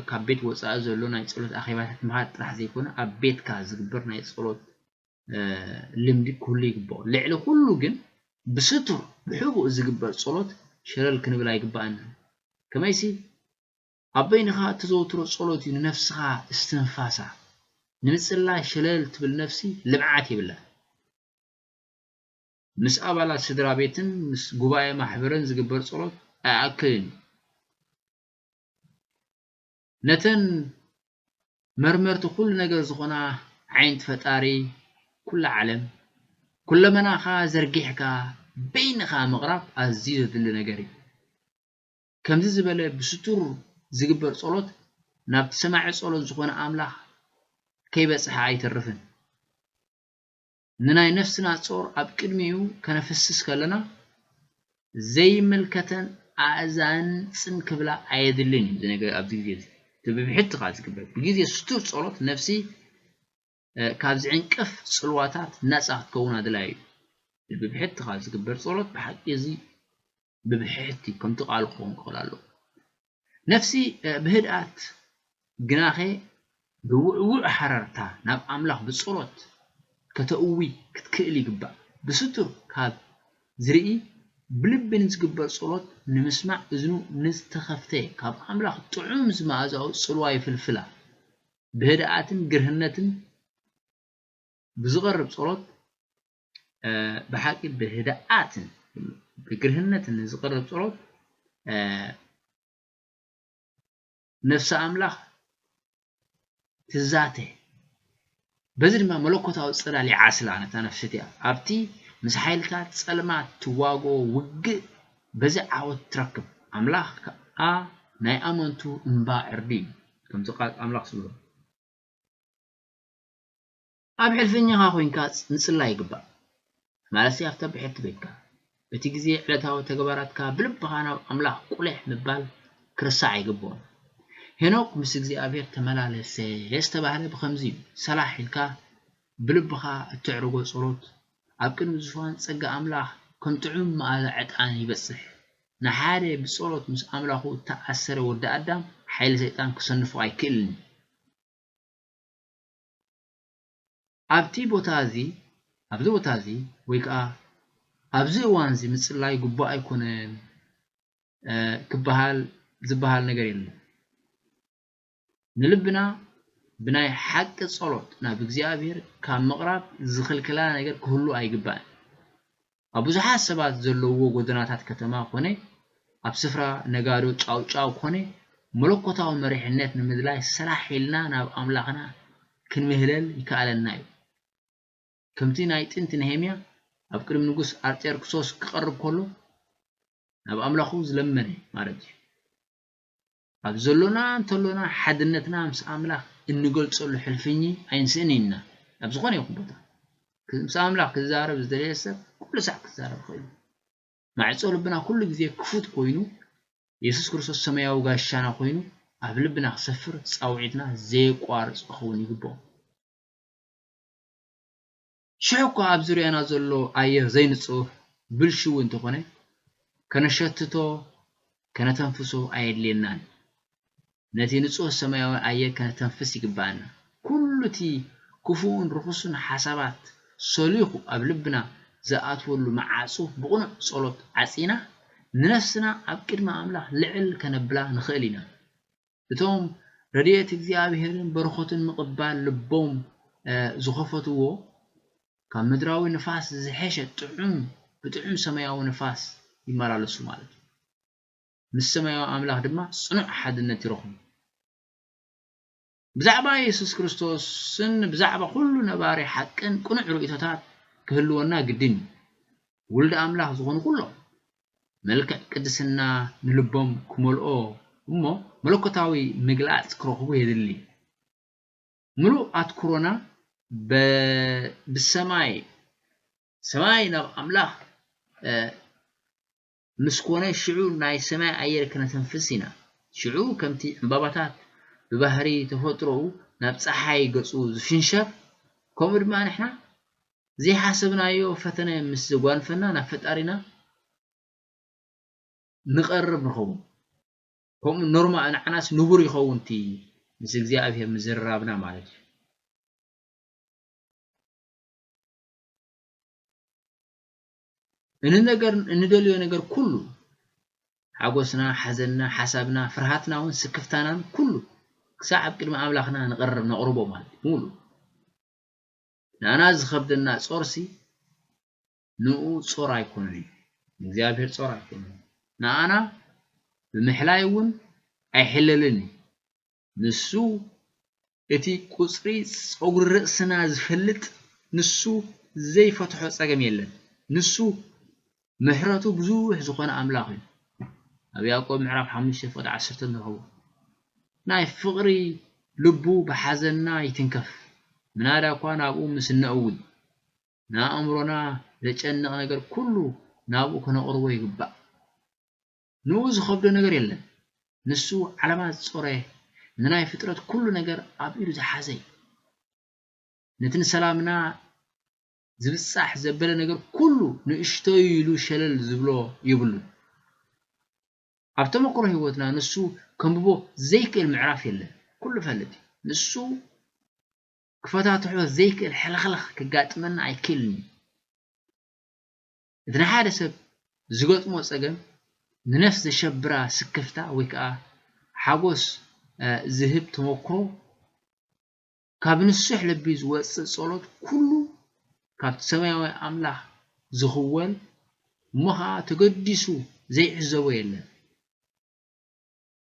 ካብ ቤት ወፃኢ ዘሎ ናይ ጸሎት ኣኼባታት ምኻድ ጥራሕ ዘይኮነ ኣብ ቤትካ ዝግበር ናይ ጸሎት ልምዲ ክህሉ ይግብኦ ልዕሊ ኩሉ ግን ብስቱር ብሕቡእ ዝግበር ጸሎት ሸለል ክንብል ኣይግብኣናን ከመይሲ ኣብ በይንኻ እተዘውትሮ ጸሎት እዩ ንነፍስኻ እስትንፋሳ። ንምጽላይ ሸለል ትብል ነፍሲ ልምዓት የብላን። ምስ ኣባላት ስድራ ቤትን ምስ ጉባኤ ማሕበርን ዝግበር ጸሎት ኣይኣክልን እዩ። ነተን መርመርቲ ኩሉ ነገር ዝኾና ዓይንቲ ፈጣሪ ኩላ ዓለም፣ ኩለመናኻ ዘርጊሕካ በይንኻ ምቕራብ ኣዝዩ ዘድሊ ነገር እዩ። ከምዚ ዝበለ ብስቱር ዚግበር ጸሎት ናብቲ ሰማዒ ጸሎት ዝኾነ ኣምላኽ ከይበጽሐ ኣይተርፍን። ንናይ ነፍስና ጾር ኣብ ቅድሚኡ ከነፍስስ ከለና ዘይምልከተን ኣእዛንን ጽን ክብላ ኣየድልን እዩ። ኣብዚ ግዜ እዚ እቲ ብብሕቲ ከኣ ዚግበር ብግዜ ስቱር ጸሎት ነፍሲ ካብ ዝዕንቅፍ ጽልዋታት ናጻ ክትከውን ኣድላዩ እዩ። ብብሕትኻ ዝግበር ጸሎት ብሓቂ እዚ ብብሕሕቲ ከምቲ ቃሉ ክኸውን ክኽእል ኣለዎ። ነፍሲ ብህድኣት ግናኸ ብውዕዉዕ ሃረርታ ናብ ኣምላኽ ብጸሎት ከተእዊ ክትክእል ይግባእ። ብስቱር ካብ ዝርኢ ብልቢ ንዝግበር ጸሎት ንምስማዕ እዝኑ ንዝተኸፍተ ካብ ኣምላኽ ጥዑም ዝመኣዛኡ ጽልዋ ይፍልፍላ። ብህድኣትን ግርህነትን ብዝቐርብ ጸሎት ብሓቂ ብህድኣትን ብግርህነትን ዝቐርብ ጸሎት ነፍሲ ኣምላኽ ትዛተ በዚ ድማ መለኮታዊ ጽላል ይዓስላ ነታ ነፍሲ እቲኣ ኣብቲ ምስ ሓይልታት ጸልማት ትዋግኦ ውግእ በዚ ዓወት ትረክብ ኣምላኽ ከኣ ናይ ኣመንቱ እምባ ዕርዲ እዩ ከምቲ ቃል ኣምላኽ ዝብሎ። ኣብ ሕልፍኛኻ ኮይንካ ምጽላይ ይግባእ፣ ማለትሲ ኣብታ ብሕቲ ቤትካ። በቲ ግዜ ዕለታዊ ተግባራትካ ብልብኻ ናብ ኣምላኽ ቁሊሕ ምባል ክርሳዕ ኣይግብኦን። ሄኖክ ምስ እግዚኣብሄር ተመላለሰ ዝተባህለ ብኸምዚ እዩ፣ ሰላሕ ኢልካ ብልብኻ እተዕርጎ ጸሎት ኣብ ቅድሚ ዙፋን ጸጋ ኣምላኽ ከም ጥዑም መኣዛ ዕጣን ይበጽሕ። ንሓደ ብጸሎት ምስ ኣምላኹ እተኣሰረ ወዲ ኣዳም፣ ሓይሊ ሰይጣን ክሰንፎ ኣይክእልን እዩ። ኣብቲ ቦታ እዚ፣ ኣብዚ ቦታ እዚ፣ ወይ ከኣ ኣብዚ እዋን እዚ ምጽላይ ግቡእ ኣይኮነን ክበሃል ዝበሃል ነገር የለን። ንልብና ብናይ ሓቂ ጸሎት ናብ እግዚኣብሔር ካብ ምቕራብ ዝኽልክላ ነገር ክህሉ ኣይግባእን። ኣብ ብዙሓት ሰባት ዘለዉዎ ጎደናታት ከተማ ኮነ ኣብ ስፍራ ነጋዶ ጫውጫው ኮነ መለኮታዊ መሪሕነት ንምድላይ ሰራሕ ኢልና ናብ ኣምላኽና ክንምህለል ይከኣለና እዩ። ከምቲ ናይ ጥንቲ ነሄምያ ኣብ ቅድሚ ንጉስ ኣርጤርክሶስ ክቐርብ ከሎ ናብ ኣምላኹ ዝለመነ ማለት እዩ። ኣብ ዘሎና እንተሎና ሓድነትና ምስ ኣምላኽ እንገልጸሉ ሕልፍኚ ኣይንስእን ኢና። ኣብ ዝኾነ ይኹን ቦታ ምስ ኣምላኽ ክዛረብ ዝደለየ ሰብ ኩሉ ሳዕ ክዛረብ ይኽእል እዩ። ማዕጾ ልብና ኩሉ ግዜ ክፉት ኮይኑ የሱስ ክርስቶስ ሰማያዊ ጋሻና ኮይኑ ኣብ ልብና ክሰፍር ጻውዒትና ዘየቋርጽ ክኸውን ይግብኦ። ሽሕ እኳ ኣብ ዙርያና ዘሎ ኣየር ዘይንጹህ ብልሽው እንተኾነ፣ ከነሸትቶ ከነተንፍሶ ኣየድልየናን። ነቲ ንጹህ ሰማያዊ ኣየር ከነተንፍስ ይግብኣና። ኩሉ እቲ ክፉእን ርኹስን ሓሳባት ሰሊኹ ኣብ ልብና ዝኣትወሉ መዓጹ ብቕኑዕ ጸሎት ዓጺና ንነፍስና ኣብ ቅድሚ ኣምላኽ ልዕል ከነብላ ንኽእል ኢና። እቶም ረድኤት እግዚኣብሔርን በረኸቱን ምቕባል ልቦም ዝኸፈትዎ ካብ ምድራዊ ንፋስ ዝሐሸ ጥዑም ብጥዑም ሰማያዊ ንፋስ ይመላለሱ ማለት እዩ። ምስ ሰማያዊ ኣምላኽ ድማ ጽኑዕ ሓድነት ይረኽቡ። ብዛዕባ የሱስ ክርስቶስን ብዛዕባ ኩሉ ነባሪ ሓቅን ቅኑዕ ርእይቶታት ክህልወና ግድን እዩ። ውልድ ኣምላኽ ዝኾኑ ኩሎም መልክዕ ቅድስና ንልቦም ክመልኦ እሞ መለኮታዊ ምግላጽ ክረኽቡ የድሊ። ምሉእ ኣትኩሮና ብሰማይ ሰማይ ናብ ኣምላኽ ምስ ኮነ ሽዑ ናይ ሰማይ ኣየር ክነተንፍስ ኢና። ሽዑ ከምቲ ዕምባባታት ብባህሪ ተፈጥሮኡ ናብ ጸሓይ ገጹ ዝፍንሸር ከምኡ ድማ ንሕና ዘይሓሰብናዮ ፈተነ ምስ ዘጓንፈና ናብ ፈጣሪና ንቐርብ ንኸውን ከምኡ ኖርማ ንዓናስ ንቡር ይኸውን እቲ ምስ እግዚኣብሔር ምዝርራብና ማለት እዩ። እንነገር እንደልዮ ነገር ኩሉ ሓጎስና ሓዘንና ሓሳብና ፍርሃትና እውን ስክፍታናን ኩሉ ክሳዕ ኣብ ቅድሚ ኣምላኽና ንቐርብ ነቕርቦ ማለት ሙሉ ናና ዝኸብደና ጾርሲ ንኡ ጾር ኣይኮነን ንእግዚኣብሔር ጾር ኣይኮነን ንኣና ብምሕላይ እውን ኣይሕለልን እዩ ንሱ እቲ ቁጽሪ ጸጉሪ ርእስና ዝፈልጥ ንሱ ዘይፈትሖ ጸገም የለን ንሱ ምሕረቱ ብዙሕ ዝኾነ ኣምላኽ እዩ። ኣብ ያእቆብ ምዕራፍ ሓሙሽተ ፍቕዲ ዓሰርተ ንረኽቦ። ናይ ፍቕሪ ልቡ ብሓዘንና ይትንከፍ፣ ምናዳ እኳ ናብኡ ምስ እነእዊ። ንኣእምሮና ዘጨንቕ ነገር ኩሉ ናብኡ ከነቕርቦ ይግባእ። ንኡ ዝኸብዶ ነገር የለን። ንሱ ዓለማት ዝጾረየ፣ ንናይ ፍጥረት ኩሉ ነገር ኣብ ኢዱ ዝሓዘ እዩ። ነቲ ንሰላምና ዝብጻሕ ዘበለ ነገር ኩሉ ንእሽቶ'ዩ ኢሉ ሸለል ዝብሎ የብሉን። ኣብ ተመክሮ ህይወትና ንሱ ከንብቦ ዘይክእል ምዕራፍ የለን። ኩሉ ፈልጥ እዩ። ንሱ ክፈታትሖ ዘይክእል ሕልኽላኽ ከጋጥመና ኣይክእልን እዩ። እቲ ንሓደ ሰብ ዝገጥሞ ጸገም ንነፍስ ዘሸብራ ስክፍታ ወይ ከኣ ሓጎስ ዝህብ ተመክሮ ካብ ንሱሕ ልቢ ዝወጽእ ጸሎት ኩሉ ካብቲ ሰማያዊ ኣምላኽ ዝኽወል እሞ ኸኣ ተገዲሱ ዘይዕዘቦ የለን።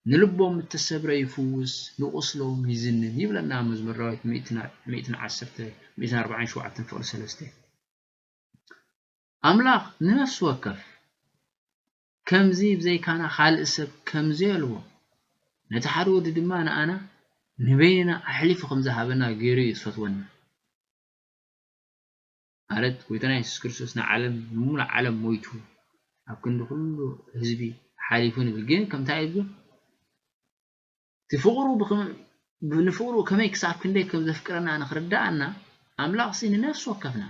ንልቦም እተሰብረ ይፍውስ ንቁስሎም ይዝንን ይብለና መዝሙር ዳዊት ሚእትን ዓሰርተ ሚእትን ኣርባዓን ሸውዓተን ፍቕዲ ሰለስተ። ኣምላኽ ንነፍሲ ወከፍ ከምዚ ብዘይካና ኻልእ ሰብ ከም ዘየልቦ፣ ነቲ ሓደ ወዱ ድማ ንኣና ንበይንና ኣሕሊፉ ኸም ዝሃበና ገይሩ እዩ ዝፈትወና። ማለት ጎይታና የሱስ ክርስቶስ ንዓለም ንሙሉእ ዓለም ሞይቱ ኣብ ክንዲ ኩሉ ህዝቢ ሓሊፉ ንብል ግን ከምታ እዩ ዝብል እቲ ፍቅሩ ንፍቅሩ ከመይ ክሳብ ክንደይ ከም ዘፍቅረና ንክርዳኣና ኣምላኽሲ ንነፍሲ ወከፍና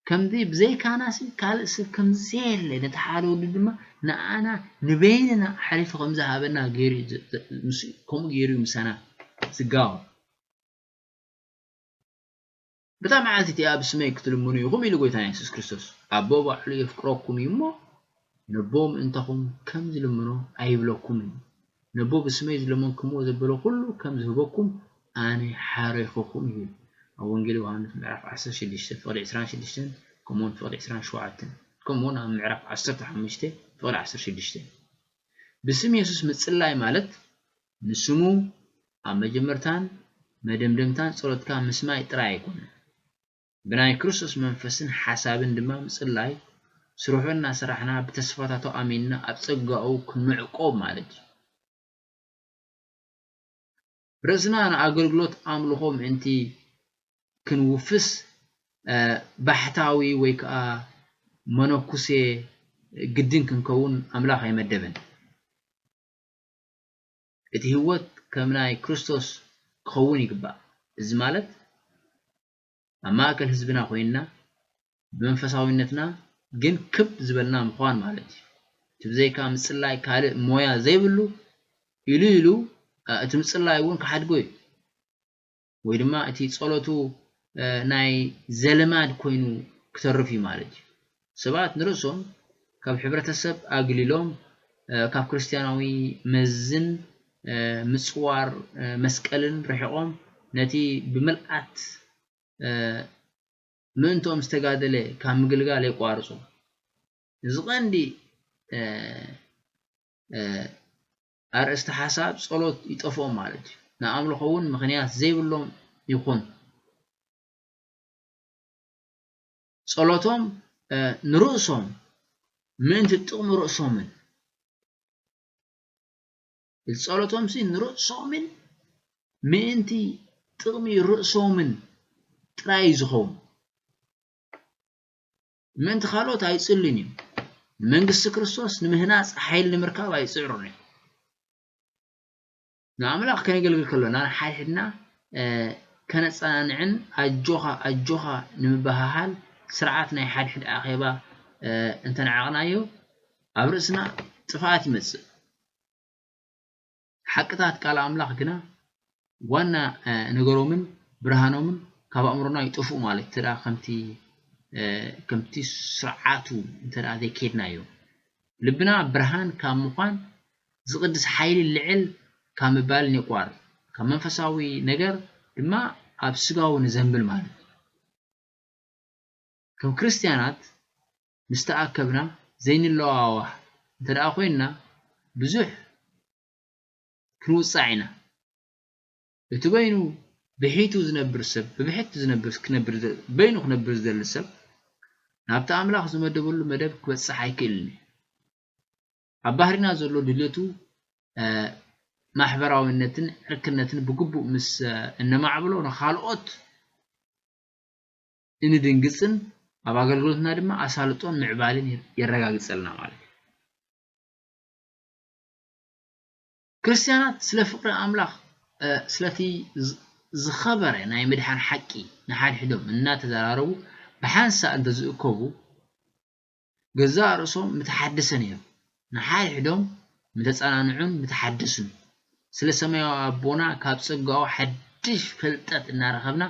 ከምዚ ብዘይካናሲ ካልእ ሰብ ከም ዘየለ ነቲ ሓደ ወዱ ድማ ንኣና ንበይንና ኣሕሊፉ ከም ዝሃበና ገይሩ ንሱ ከምኡ ገይሩ እዩ ምሳና ዝጋወ በታ መዓልቲ እቲኣ ብስመይ ክትልምኑ ኢኹም ኢሉ ጎይታና የሱስ ክርስቶስ ኣቦ ባዕሉ የፍቅረኩም እዩ እሞ ነቦ ምእንታኹም ከም ዝልምኖ ኣይብለኩምን፣ ነቦ ብስመይ ዝለመንኩምዎ ዘበለ ዅሉ ከም ዝህበኩም ኣነ ሓረይኹኹም ይብል። ኣብ ወንጌል ዮሃንስ ምዕራፍ ዓሰርተ ሽዱሽተ ፍቕዲ ዕስራን ሽዱሽተን ከምኡውን ፍቕዲ ዕስራን ሸውዓተን ከምኡውን ኣብ ምዕራፍ ዓሰርተ ሓሙሽተ ፍቕዲ ዓሰርተ ሽዱሽተ ብስም የሱስ ምጽላይ ማለት ንስሙ ኣብ መጀመርታን መደምደምታን ጸሎትካ ምስማይ ጥራይ ኣይኮነን። ብናይ ክርስቶስ መንፈስን ሓሳብን ድማ ምጽላይ፣ ስርሑ እናሰራሕና ብተስፋታቱ ኣሚንና ኣብ ጸጋኡ ክንዕቆብ ማለት እዩ። ርእስና ንኣገልግሎት ኣምልኾ ምእንቲ ክንውፍስ ባሕታዊ ወይ ከኣ መነኩሴ ግድን ክንከውን ኣምላኽ ኣይመደበን። እቲ ህይወት ከም ናይ ክርስቶስ ክኸውን ይግባእ፣ እዚ ማለት ኣብ ማእከል ህዝብና ኮይንና ብመንፈሳዊነትና ግን ክብ ዝበልና ምዃን ማለት እዩ። እቲ ብዘይካ ምጽላይ ካልእ ሞያ ዘይብሉ ኢሉ ኢሉ እቲ ምጽላይ እውን ክሓድጎ እዩ። ወይ ድማ እቲ ጸሎቱ ናይ ዘልማድ ኮይኑ ክተርፍ እዩ ማለት እዩ። ሰባት ንርእሶም ካብ ሕብረተሰብ ኣግሊሎም ካብ ክርስትያናዊ መዝን ምጽዋር መስቀልን ርሒቖም ነቲ ብምልኣት ምእንትኦም ዝተጋደለ ካብ ምግልጋል የቋርጹ። እዚ ቐንዲ ኣርእስተ ሓሳብ ጸሎት ይጠፍኦም ማለት እዩ። ንኣምልኾ እውን ምኽንያት ዘይብሎም ይኹን። ጸሎቶም ንርእሶም ምእንቲ ጥቕሚ ርእሶምን ጸሎቶምሲ ንርእሶምን ምእንቲ ጥቕሚ ርእሶምን ጥራይ እዩ ዝኸውን። ምእንቲ ካልኦት ኣይጽልን እዩ። ንመንግስቲ ክርስቶስ ንምህናጽ ሓይሊ ንምርካብ ኣይጽዕሩን እዮም። ንኣምላኽ ከነገልግል ከሎና ንሓድሕድና ከነጸናንዕን ኣጆኻ ኣጆኻ ንምበሃሃል ስርዓት ናይ ሓድሕድ ኣኼባ እንተነዓቕናዮ ኣብ ርእስና ጥፍኣት ይመጽእ። ሓቅታት ቃል ኣምላኽ ግና ዋና ነገሮምን ብርሃኖምን ካብ ኣእምሮና ይጠፍኡ ማለት እዩ እንተደኣ ከምቲ ከምቲ ስርዓቱ እንተደኣ ዘይኬድናዮ ልብና ብርሃን ካብ ምዃን ዝቕድስ ሓይሊ ልዕል ካብ ምባልን የቋርጽ ካብ መንፈሳዊ ነገር ድማ ኣብ ስጋዊ ንዘንብል ማለት እዩ ከም ክርስትያናት ምስ ተኣከብና ዘይንለዋዋህ እንተ ደኣ ኮይንና ብዙሕ ክንውጻዕ ኢና። እቲ በይኑ ብሒቱ ዝነብር ሰብ ብብሕቲ ዝነብር ክነብር በይኑ ክነብር ዝደሊ ሰብ ናብቲ ኣምላኽ ዝመደበሉ መደብ ክበጽሕ ኣይክእልን እዩ። ኣብ ባህሪና ዘሎ ድልየቱ ማሕበራዊነትን ዕርክነትን ብግቡእ ምስ እነማዕብሎ ንኻልኦት እንድንግጽን ኣብ ኣገልግሎትና ድማ ኣሳልጦን ምዕባልን የረጋግጸልና ማለት እዩ። ክርስትያናት ስለ ፍቕሪ ኣምላኽ ስለቲ ዝኸበረ ናይ ምድሓን ሓቂ ንሓድሕዶም እናተዘራረቡ ብሓንሳእ እንተዝእከቡ ገዛእ ርእሶም ምተሓደሰ ነይሩ፣ ንሓድሕዶም ምተጸናንዑን ምተሓደሱን፣ ስለ ሰማያዊ ኣቦና ካብ ጸጋኡ ሓድሽ ፍልጠት እናረኸብና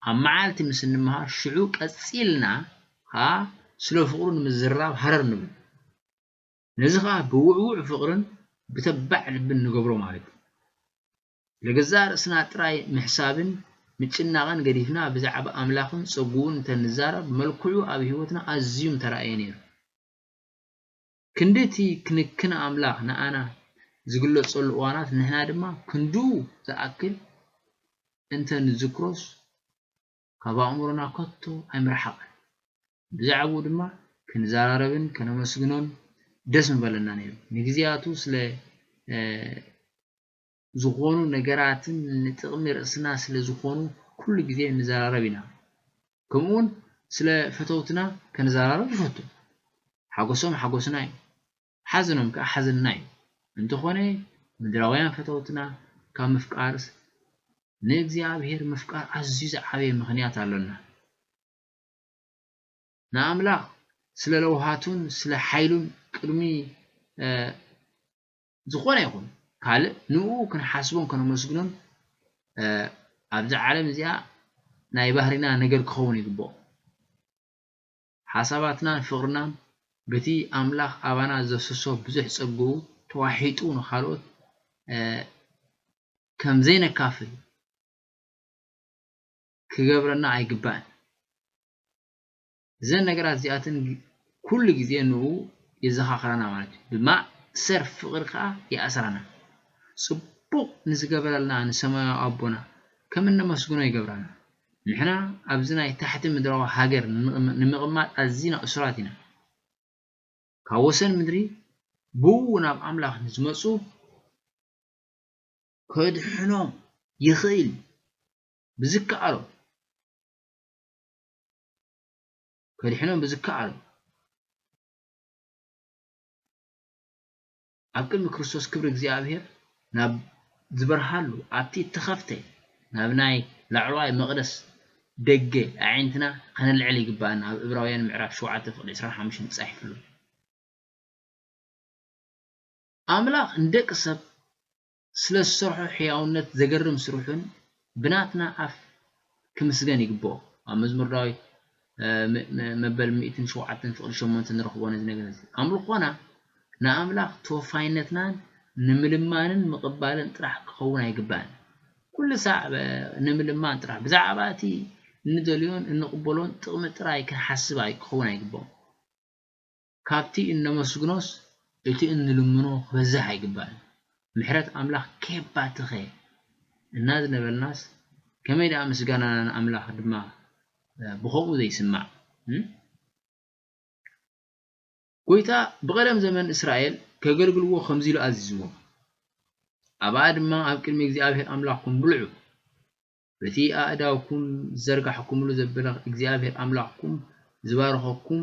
ኣብ መዓልቲ ምስ እንመሃር፣ ሽዑ ቀጺልና ኸኣ ስለ ፍቕሩ ንምዝርራብ ሃረር ንብል። ነዚ ኸኣ ብውዕዉዕ ፍቕርን ብተባዕ ልብን ንገብሮ ማለት እዩ። ንገዛእ ርእስና ጥራይ ምሕሳብን ምጭናቕን ገዲፍና ብዛዕባ ኣምላኽን ጸግኡን እንተ ንዛረብ መልክዑ ኣብ ህይወትና ኣዝዩ ምተራእየ ነይሩ። ክንዲ እቲ ክንክን ኣምላኽ ንኣና ዝግለጸሉ እዋናት ንሕና ድማ ክንድኡ ዝኣክል እንተ ንዝክሮስ ካብ ኣእምሮና ከቶ ኣይምረሓቐን። ብዛዕብኡ ድማ ክንዘራረብን ከነመስግኖን ደስ ምበለና ነይሩ። ንግዜያቱ ስለ ዝኾኑ ነገራትን ንጥቕሚ ርእስና ስለ ዝኾኑ ኩሉ ግዜ ንዘራረብ ኢና። ከምኡውን ስለ ፈተውትና ከንዘራረብ ንፈቱ። ሓጎሶም ሓጎስና እዩ፣ ሓዘኖም ከኣ ሓዘንና እዩ። እንተኾነ ምድራውያን ፈተውትና ካብ ምፍቃርስ ንእግዚኣብሄር ምፍቃር ኣዝዩ ዝዓበየ ምኽንያት ኣሎና። ንኣምላኽ ስለ ለውሃቱን ስለ ሓይሉን ቅድሚ ዝኾነ ይኹን ካልእ ንእኡ ክንሓስቦን ከነመስግኖን ኣብዛ ዓለም እዚኣ ናይ ባህሪና ነገር ክኸውን ይግብኦ። ሓሳባትናን ፍቕርናን በቲ ኣምላኽ ኣባና ዘፍስሶ ብዙሕ ጸግኡ ተዋሒጡ ንኻልኦት ከም ዘይነካፍል ክገብረና ኣይግባእን። እዘን ነገራት እዚኣተን ኩሉ ግዜ ንእኡ የዘኻኽራና ማለት እዩ። ብማእሰር ፍቕሪ ከኣ ይኣስራና። ጽቡቕ ንዝገበረልና ንሰማያዊ ኣቦና ከም እነመስግኖ ይገብራና። ንሕና ኣብዚ ናይ ታሕቲ ምድራዊ ሃገር ንምቕማጥ ኣዚና እሱራት ኢና። ካብ ወሰን ምድሪ ብእኡ ናብ ኣምላኽ ንዝመጹ ከድሕኖም ይኽእል እዩ ብዝከኣሎ። ከድሕኖም ብዝከኣሎ ኣብ ቅድሚ ክርስቶስ ክብሪ እግዚኣብሔር ናብ ዝበርሃሉ ኣብቲ እተኸፍተ ናብ ናይ ላዕለዋይ መቕደስ ደገ ኣዒንትና ከነልዕል ይግብኣና ኣብ እብራውያን ምዕራፍ ሸውዓተ ፍቕዲ ዕስራን ሓሙሽተን ተጻሒፉ ኣሎ። ኣምላኽ ንደቂ ሰብ ስለ ዝሰርሖ ሕያውነት ዘገርም ስርሑን ብናትና ኣፍ ክምስገን ይግብኦ ኣብ መዝሙር ዳዊት ም መበል ሚእትን ሸውዓተን ፍቕዲ ሸሞንተ ንረኽቦ ነዚ ነገር እዚ ኣምልኾና ንኣምላኽ ተወፋይነትናን ንምልማንን ምቕባልን ጥራሕ ክኸውን ኣይግባእን ኩሉ ሳዕ ንምልማን ጥራሕ ብዛዕባ እቲ እንደልዮን እንቕበሎን ጥቕሚ ጥራይ ክንሓስብ ክኸውን ኣይግብኦን ካብቲ እነመስግኖስ እቲ እንልምኖ ክበዝሕ ኣይግባእን። ምሕረት ኣምላኽ ኬባትኸ እናዝነበልናስ ከመይ ደኣ ምስጋናና ንኣምላኽ ድማ ብኸምኡ ዘይስማዕ። ጐይታ ብቐደም ዘመን እስራኤል ከገልግልዎ ከምዚ ኢሉ ኣዚዝዎም፣ ኣብኣ ድማ ኣብ ቅድሚ እግዚኣብሄር ኣምላኽኩም ብልዑ። በቲ ኣእዳውኩም ዝዘርጋሕኩምሉ ዘበለ እግዚኣብሄር ኣምላኽኩም ዝባረኸኩም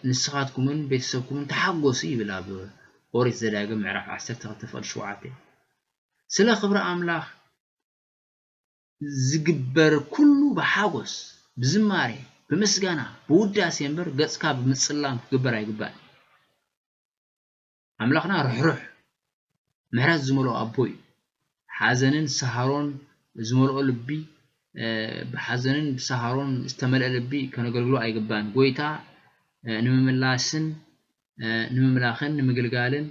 ንስኻትኩምን ቤተሰብኩምን ተሓጐሱ ይብል ኣብ ኦሪት ዘዳግም ምዕራፍ ዓሰርተ ክልተ ፍቕዲ ሸውዓተ ስለ ክብሪ ኣምላኽ ዝግበር ኩሉ ብሓጐስ ብዝማሬ ብምስጋና ብውዳሴ እምበር ገጽካ ብምጽላም ክግበር ኣይግባእን ኣምላኽና ርሕሩሕ ምሕረት ዝመልኦ ኣቦ እዩ። ሓዘንን ሰሃሮን ዝመልኦ ልቢ ብሓዘንን ብሰሃሮን ዝተመልአ ልቢ ከነገልግሎ ኣይግባእን። ጎይታ ንምምላስን ንምምላኽን ንምግልጋልን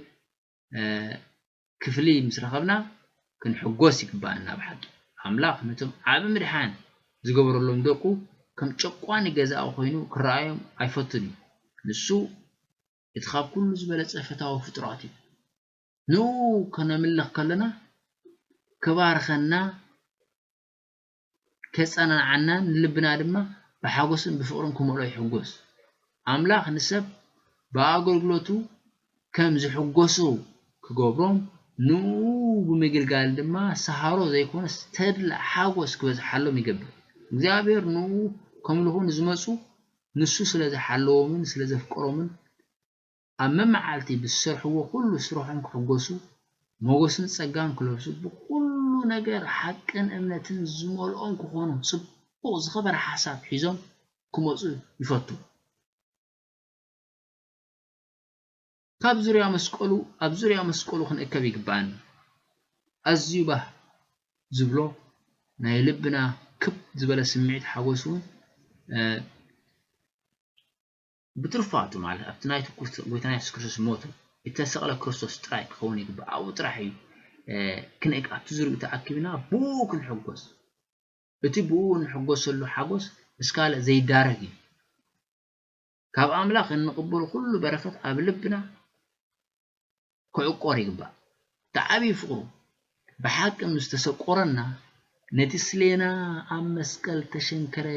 ክፍሊ ምስ ረኸብና ክንሕጎስ ይግባእና ብሓቂ። ኣምላኽ ነቶም ዓቢ ምድሓን ዝገበረሎም ደቁ ከም ጨቋኒ ገዛኢ ኮይኑ ክረኣዮም ኣይፈቱን እዩ። ንሱ እቲ ኻብ ኵሉ ዝበለጸ ፈታዊ ፍጡራት እዩ። ንእኡ ኸነምልኽ ከሎና፣ ኪባርኸና፣ ኬጸናንዓናን ንልብና ድማ ብሓጐስን ብፍቕርን ኪመልኦ ይሕጐስ። ኣምላኽ ንሰብ ብኣገልግሎቱ ኸም ዚሕጐሱ ኪገብሮም፣ ንእኡ ብምግልጋል ድማ ሰሃሮ ዘይኰነስ ተድላ፣ ሓጐስ፣ ኪበዝሓሎም ይገብር። እግዚኣብሄር ንእኡ ኼምልኹ ንዝመጹ ንሱ ስለ ዝሓለዎምን ስለ ዘፍቀሮምን ኣብ መመዓልቲ ብዝሰርሕዎ ኩሉ ስርሖም ክሕጎሱ ሞጎስን ጸጋን ክለብሱ ብኩሉ ነገር ሓቅን እምነትን ዝመልኦም ክኮኑ ጽቡቅ ዝከበረ ሓሳብ ሒዞም ክመጹ ይፈቱ። ካብ ዙርያ መስቀሉ ኣብ ዙርያ መስቀሉ ክንእከብ ይግብኣና። ኣዝዩ ባህ ዝብሎ ናይ ልብና ክብ ዝበለ ስምዒት ሓጎስ እውን ብትሩፋቱ ማለት ኣብቲ ናይ ጎይታና የሱስ ክርስቶስ ሞቱ እተሰቕለ ክርስቶስ ጥራይ ክኸውን ይግባእ። ኣብኡ ጥራሕ እዩ ክንእክ ኣብቲ ዙርኡ ተኣኪብና ብኡ ክንሕጎስ እቲ ብኡ እንሕጎሰሉ ሓጎስ ምስ ካልእ ዘይዳረግ እዩ። ካብ ኣምላኽ እንቕበሎ ኩሉ በረኸት ኣብ ልብና ክዕቆር ይግባእ። እቲ ዓብዪ ፍቕሩ ብሓቂ ምስ ተሰቆረና፣ ነቲ ስሌና ኣብ መስቀል እተሸንከረ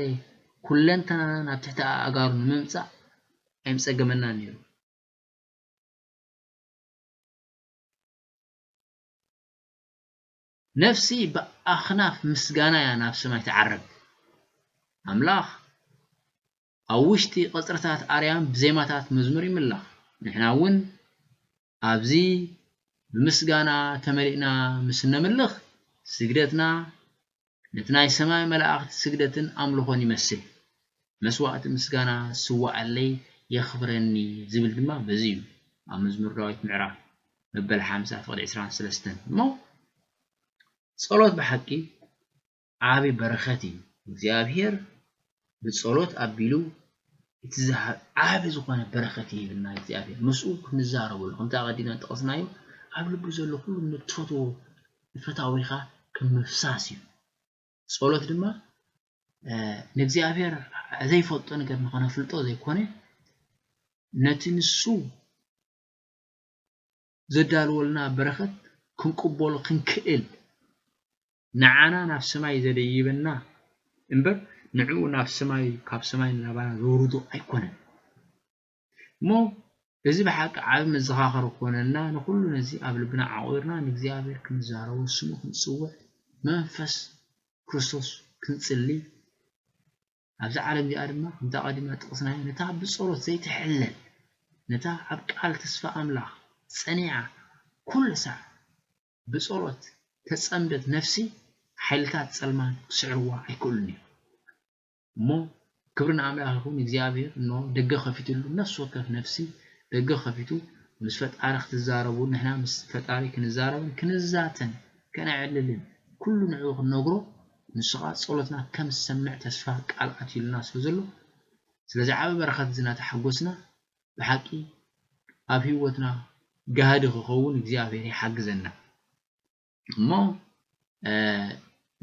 ኩለንተናና ናብ ትሕቲ ኣእጋሩ ንምምጻእ ኣይምጸገመናን ነይሩ። ነፍሲ ብኣኽናፍ ምስጋና እያ ናብ ሰማይ ትዓርግ። ኣምላኽ ኣብ ውሽጢ ቐጽርታት ኣርያም ብዜማታት መዝሙር ይምላኽ። ንሕና እውን ኣብዚ ብምስጋና ተመሊእና ምስ እነምልኽ፣ ስግደትና ነቲ ናይ ሰማይ መላእኽቲ ስግደትን ኣምልኾን ይመስል። መስዋእቲ ምስጋና ዝስዋኣለይ የኽብረኒ ዝብል ድማ በዚ እዩ፣ ኣብ መዝሙር ዳዊት ምዕራፍ መበል ሓምሳ ፍቕዲ ዕስራን ሰለስተን እሞ ጸሎት ብሓቂ ዓቢ በረኸት እዩ እግዚኣብሄር ብጸሎት ኣቢሉ እቲ ዝሃብ ዓቢ ዝኾነ በረኸት ይህብና እግዚኣብሄር ምስኡ ክንዛረበሉ ከምቲ ኣቐዲምና ዝጠቐስናዮ ኣብ ልቡ ዘሎ ኩሉ ንትፈትዎ ንፈታዊኻ ከም ምፍሳስ እዩ ጸሎት ድማ ንእግዚኣብሄር ዘይፈልጦ ነገር ንኸነፍልጦ ዘይኮነ ነቲ ንሱ ዘዳልወልና በረኸት ክንቅበሎ ክንክእል ንዓና ናብ ሰማይ ዘደይበና እምበር ንዕኡ ናብ ሰማይ ካብ ሰማይ ንላባና ዘውርዶ ኣይኮነን እሞ እዚ ብሓቂ ዓቢ መዘኻኸሪ ክኾነና ንኹሉ ነዚ ኣብ ልብና ዓቑርና ንእግዚኣብሔር ክንዛረቦ ስሙ ክንጽውዕ መንፈስ ክርስቶስ ክንጽሊ ኣብዛ ዓለም እዚኣ ድማ ከምቲ ኣቐዲምና ዝጠቐስናዮ ነታ ብጸሎት ዘይትሕለል ነታ ኣብ ቃል ተስፋ ኣምላኽ ጸኒዓ ኩሉ ሳዕ ብጸሎት ተጸምደት ነፍሲ ሓይልታት ጸልማት ክስዕርዋ ኣይክእሉን እዮም እሞ ክብሪ ንኣምላኽ ይኹን እግዚኣብሔር እኖ ደገ ከፊትሉ ነፍሲ ወከፍ ነፍሲ ደገ ከፊቱ ምስ ፈጣሪ ክትዛረቡ ንሕና ምስ ፈጣሪ ክንዛረብን ክንዛተን ከነዕልልን ኩሉ ንዕኡ ክንነግሮ ንሱ ከኣ ጸሎትና ከም ዝሰምዕ ተስፋ ቃል ኣትዩልና ስለ ዘሎ ስለዚ ዓቢ በረኸት እዚ ናተሓጎስና ብሓቂ ኣብ ሂወትና ጋህዲ ክኸውን እግዚኣብሔር ይሓግዘና እሞ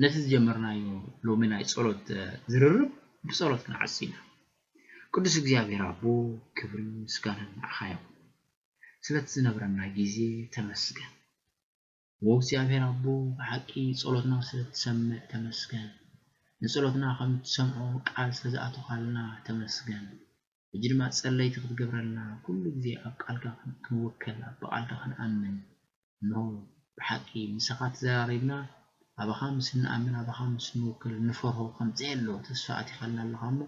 ነቲ ዝጀመርናዮ ሎሚ ናይ ጸሎት ዝርርብ ብጸሎት ክንዓጽ ኢና ቅዱስ እግዚኣብሔር ኣቦ ክብርን ምስጋናን ንዓኻ ይኹን ስለቲ ዝነብረና ግዜ ተመስገን። ዎው እግዚኣብሔር ኣቦ ብሓቂ ጸሎትና ስለ ትሰምዕ ተመስገን ንጸሎትና ከም ትሰምዖ ቃል ስለ ዝኣቶኻልና ተመስገን ሕጂ ድማ ጸለይቲ ክትገብረልና ኩሉ ግዜ ኣብ ቃልካ ክንውከል ኣብ ብቃልካ ክንኣምን እንሆ ብሓቂ ምሳኻ ተዘራሪብና ኣባኻ ምስ እንኣምን ኣባኻ ምስ እንውከል እንፈርሆ ከምጽ የሎ ተስፋ ኣቲኻልና ኣለኻ እሞ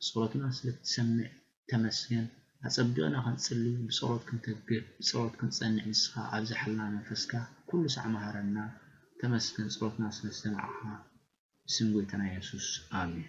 ጸሎትና ስለ ትሰምዕ ተመስገን ኣጸቢቅና ክንጽሊ ብጸሎት ክንተግር ብጸሎት ክንጸንዕ ንስካ ኣብዝሓልና መንፈስካ ኩሉ ሳዕ መሃረና ተመስገን ጸሎትና ስለ ዝሰማዕካ ብስም ጎይታና የሱስ ኣሜን።